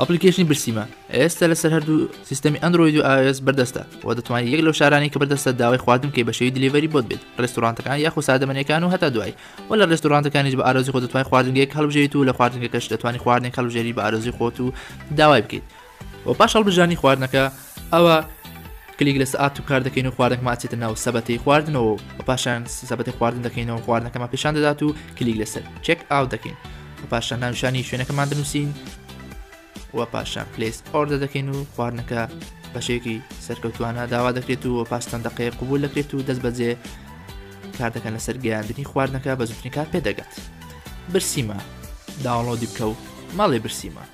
ئەپلیکەیشنی برسیمە ئێستا لەسەر هەردوو سیستەمی ئەندرۆید و ئاس بەردەستە و دەتوانانی یەک لەو شارانی کە بەردەستە داوای خواردن کەی بە شێوی دلیڤەری بۆت بێت ڕێستورانتەکان یاخو سادەمەنیەکان و هەتا دوایی و لە ڕێستورانتەکانیش بە ئارزی خۆ دەتوانین خواردنگەیەک هەڵبژێریت و لە خواردنگەکەش دەتوانانی خواردنێک هەڵبژێری بە ئارزی خۆت و داوای بکەیت و پاش هەڵبژانی خواردنەکە ئەوە کلیک لەس ئات و کار دەکەین و خواردنەکە ماچێتە ناو سەبەتی خواردنەوە و پاشان سەبەتی خواردن دەکەینەوە خواردنەکەمە پیشان دەدات و کلیک لەسەر چێک ئاو دەکەین و پاشان ناوشانی شوێنەکەمان دەنووسین و پاشان پلیس ئۆردە دەکەین و خواردنەکە بەشێکی سەرکەوتوانە داوا دەکرێت و پاستان دەقەیە قوبول دەکرێت و دەست بەجێ کار دەکەن لەسەر گەیاندنی خواردنەکە بە زوتنی کار پێدەگات برسیمە داوەڵۆ دیبکە و ماڵێ برسیمە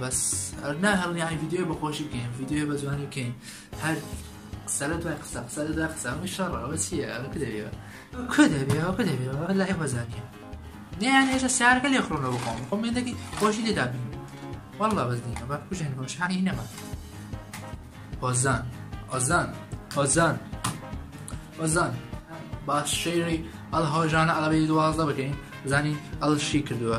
بەس ئەرنا هەڵنیانی ڤیددیو بەخۆشی بکەین ڤیددیو بە جوانی بکەین هەر سەرە دوای قسە قسە دا قسەی شەڕەوە چیە کە دەبێەوە کە دەبێەوە کە دەبێەوە لای بەزانە نیان هێشە سیارەکە لێ خڕۆنە بخۆم خۆمێندەکی خۆشی لێدا بین والله بەس دینە بە کوژێن بۆشانی نەما ئۆزان ئۆزان ئۆزان ئۆزان باش شێری ئەڵ هۆژانە ئەڵەبی دوازدە بکەین زانی ئەڵ شی کردووە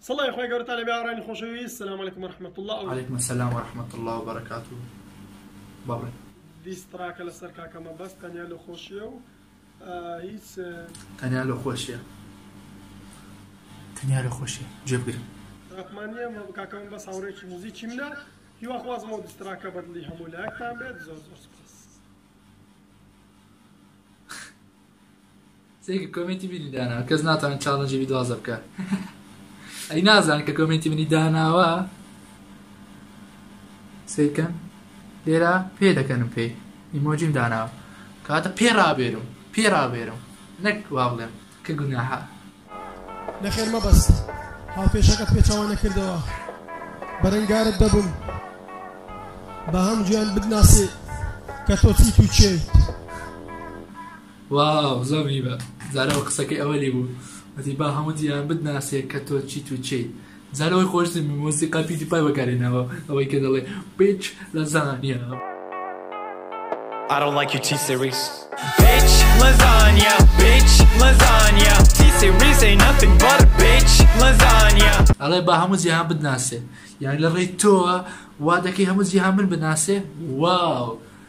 سڵای خوای گەورەتان لەبێ هاوڕێیانی خۆشەویست سلام علیکم ورحمە اللە و. علیکم السلام ورحمە اللە وبرکاته بەڵێ. دیس تڕاکە لەسەر کاکە مەبەست تەنیا لۆ خۆشیە و هیچ. تەنیا لۆ خۆشیە تەنیا لۆ خۆشیە جێ بگرن. ڕەحمانیە مە کاکە مەبەست هاوڕێکی موزیکی منە هیوا خوازم ئەو دیس تڕاکە بەدڵی هەموو لایەکتان بێت زۆر زۆر سوپاس. سێ کە کۆمێنتی بینی دانا کەس ناتوانێت چاڵنجی بیدوازە بکە ئەی نازان کە کۆمێنتی منی داناوە سیرکەن لێرە پێ دەکەنم پێی ئیمۆجیم داناوە کاتە پێ ڕابێرم پێ ڕابێرم نەک وا بڵێم کە گوناها نەخێر مەبەست هاوکێشەکەت پێچەوانەکردەوە بەرەنگارت دەبم با هەموویان بدناسێ کە تۆ چیت و چێیت واو زۆر میبە زارەوە قسەکەی ئەوەلی بوو وتی با هەموو دیان بدناسێ کە تۆ چیت و چیت جا لەوەی خۆشترین مۆسیقا پیوتی پای بەکارهێناوە ئەوەی کە دەڵێ بیچ لەزانیا. I don't like you T-series Bitch lasagna Bitch lasagna T-series ain't nothing but a bitch lasagna ئەڵێ با هەموو جیهان بتناسێ یانی لە ڕێی تۆوە وا دەکەی هەموو جیهان من بناسێ واو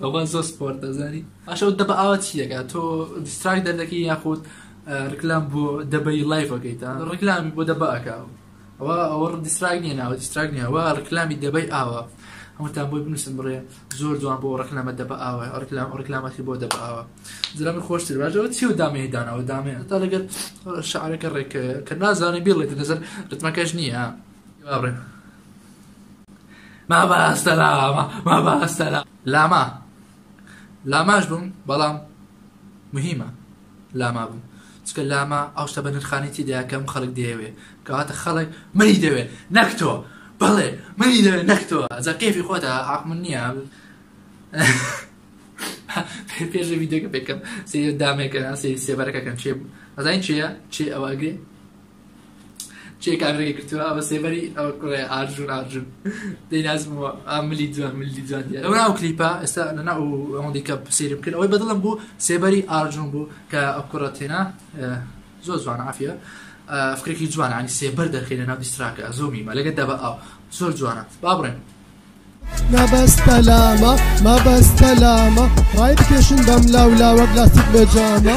بابا زۆر سپۆرت دەزانی ئاشە دەبە ئاوا چی دەکا تۆ دیستراک دەردەکەی یاخود ڕکلام بۆ دەبەی لایڤەکەیتا ڕکلامی بۆ دەبەکە ئەوە ئەوە دیستراک نیە ناوە دیستراک نیەوە ڕکلامی دەبەی ئاوا هەمووتان بۆی بنووسن بڕێ زۆر جوان بۆ ڕکلامە دەبە ئاوا ڕکلام ڕکلامەتی بۆ دەبە ئاوا زرامە خۆشتر باشەوە چی و دامێ داناوە دامێ تا لەگەر شعرەکە ڕێکەیە کە نازانێ بێڵێت نەزەر ڕتمەکەش نییە بڕێ مەبەستە لاما مەبەستە لا لاما لاماش بووم بەڵام مهمە لاما بووم چکە لاما ئەو شتە بە نرخانێتی دەکەم خەڵک دەیەوێ کەواتە خەڵک منی دەوێ نەک تۆ بەڵێ منی دەوێ نەک تۆ ئەجا کێفی خۆتە عقمن نییە پێش ویددیوگە پێکەم سێ دامێکە سێ سێبەرەکەکەن چێ بوو ئەزای چێە چێ ئەوە ئەگرێ چێ کاگرێکی گرتووە ئەوە سێبەری ئەوە کوڕێ ئارژون ئارژون دەینازمەوە ئاملی دوان ملی دوان ئەو ناو کلیپا ئێستا لە ناو ئەوەندی کە سێرم کرد ئەوەی بەدڵم بوو سێبەری ئارژون بوو کە ئەو کوڕە تێنا زۆر جوان عافە فکرێکی جوان عنی سێبەر دەرخی لە ناو دیستراکە زۆمی مە لەگە دەبە ئەو زۆر جوانە با بڕێن مەبەستە لامە مەبەستە لامە ڕای بکێشن بەم لاو لاوەک لاستیک بەجامە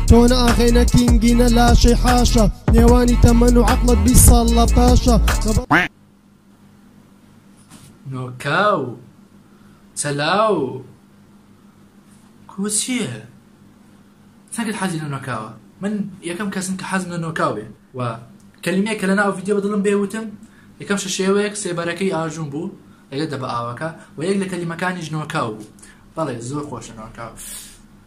تۆ نە ئاغەی نە کینگی نە لاشەی حاشا نێوانی تەمەن و عەقڵت بیست ساڵ لە پاشە نۆکاو چەلاو کو چییە؟ چەکت حەزی لە نۆکاوە من یەکەم کەسم کە حەزم لە نۆکاو بێ و کەلیمەیە کە لە ناو ڤیددیو بدڵم بێ وتم یەکەم شەشێوەیەک سێبەرەکەی ئاژون بوو لەگە دەبە ئاوەکە و یەک لە کەلیمەکانیش نۆکاو بوو بەڵێ زۆر خۆشە نۆکاو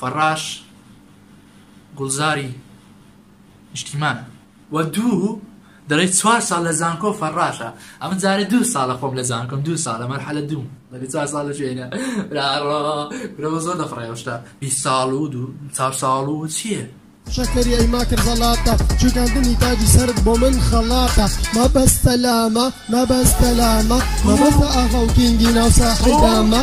فەڕاش گوڵزاری نیشتیمان. و دوو دەڵێی چوار ساڵ لە زانکۆ فەڕاشە ئەمە جارە دوو ساڵە خۆم لە زانکۆم دوو ساڵە مەرحەلە دووم لەگە چوار ساڵ لە شوێنە برا زۆر دەفڕێەوە شتا بی ساڵ و دوو چار ساڵ و چییە شەکەری ئەی ماکر زەڵاتە جوگاندنی تاجی سرد بۆ من خەڵاتە مەبەستە لامە مەبەستە لامە مەبەستە ئاغا و کینگی ناو ساحەی دامە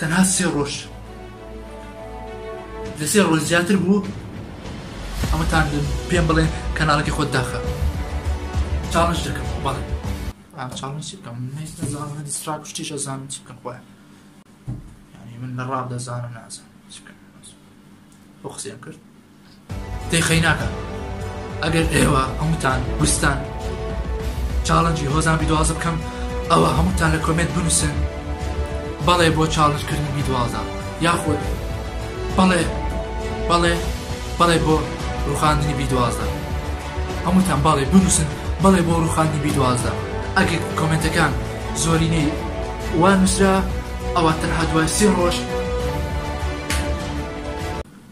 تەنها سێ ڕۆژ لە سێ ڕۆژ زیاتر بوو ئەمەتان پێم بڵێن کەناڵەکە خۆت داخە چاڵش دەکەم بەڵێ شتیش ئەزانم چ بکەم خۆیان من لە ڕاب دەزانم نازانم بۆ قسەیان کرد دەی خەیناکە ئەگەر ئێوە هەمووتان ویستان چاڵنجی هۆزان بیدوازە بکەم ئەوە هەمووتان لە کۆمێنت بنووسن بەڵێ بۆ چاڵنجکردنی بیدوازە یاخود بەڵێ بەڵێ بەڵێ بۆ ڕوخاندنی بیدوازە هەمووتان باڵێ بنووسن بەڵێ بۆ ڕوخاندنی بیدوازە ئەگەر کۆمنتەکان زۆرینەی وا نووسرا ئەوە تەنها دوای سێ ڕۆژ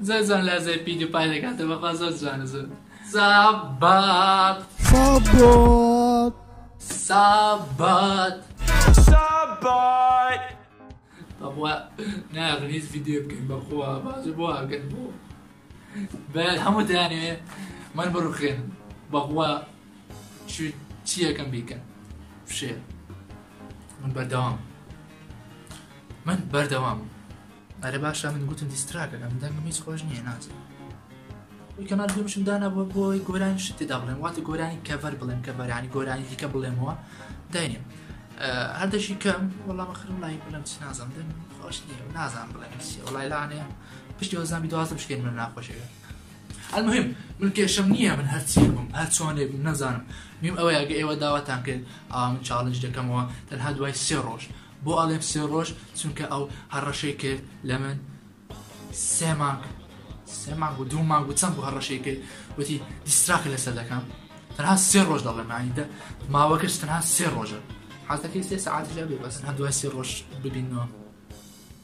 زۆر جوان لازای پیدی پای دەکاتە بەخوا زۆر جوانە زۆر سابات سابات سابات سابات بەخوا ناغن هیچ ڤیدیۆ بکەین بەخوا بازر بۆ ئاگەن بۆ بە هەموو دانێ من بڕخێن بەخوا چیەکەم بیکەن فشێ من بەردەوام من بەردەوام ئەرە باشە من گوتم دیستراکە ئەم دەنگم هیچ خۆش نییە ناچێت کەمان گومشم دانا بۆ بۆی گۆرانی شت تێدا بڵێن واتە گۆرانی کەڤەر بڵێن کە بەرانی گۆرانی دیکە بڵێمەوە داینێ هەردەشی کەم وەڵام خرم لای بڵم چ نازم دەنگ خۆش نییە نازان بڵێن وڵای لاانێ پشتی وەزانبی دوازم شکێن من ناخۆشەوێت المهم من کێشەم نییە من هەرچیەک بم هەر چۆنێک بم نەزانم میم ئەوەیە ئەگە ئێوە داواتان کرد ئاوا من چاڵنج دەکەمەوە تەنها دوای سێ ڕۆژ بۆ ئاڵێم سێ ڕۆژ چونکە ئەو هەڕەشەی کرد لە من سێ مانگ سێ مانگ و دوو مانگ و چەند بۆ هەڕەشەی کرد وتی دیستراکە لەسەر دەکەم تەنها سێ ڕۆژ دەڵێ مانیدە ماوەکەش تەنها سێ ڕۆژە حازەکەی سێ سعات لە بێ بەسن هەر دوای سێ ڕۆژ ببینەوە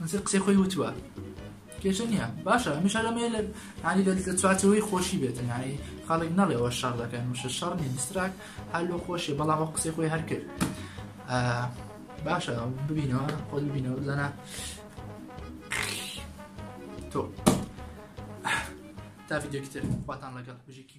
نووسەر قسەی خۆی وتووە کێشە نییە باشە هەمیشە لەمێ لە هەنی لە چوارچەوەی خۆشی بێتن هەنی خاڵێک نەڵێەوە شەڕ دەکەن وشە شەڕ نیستراک هەر لۆ خۆشی بەڵام وە قسەی خۆی هەر کرد باشە ببینەوە خۆ ببینەوە بزانە تۆ تا ڤیددیوکتر خواتان لەگەڵ بژێکی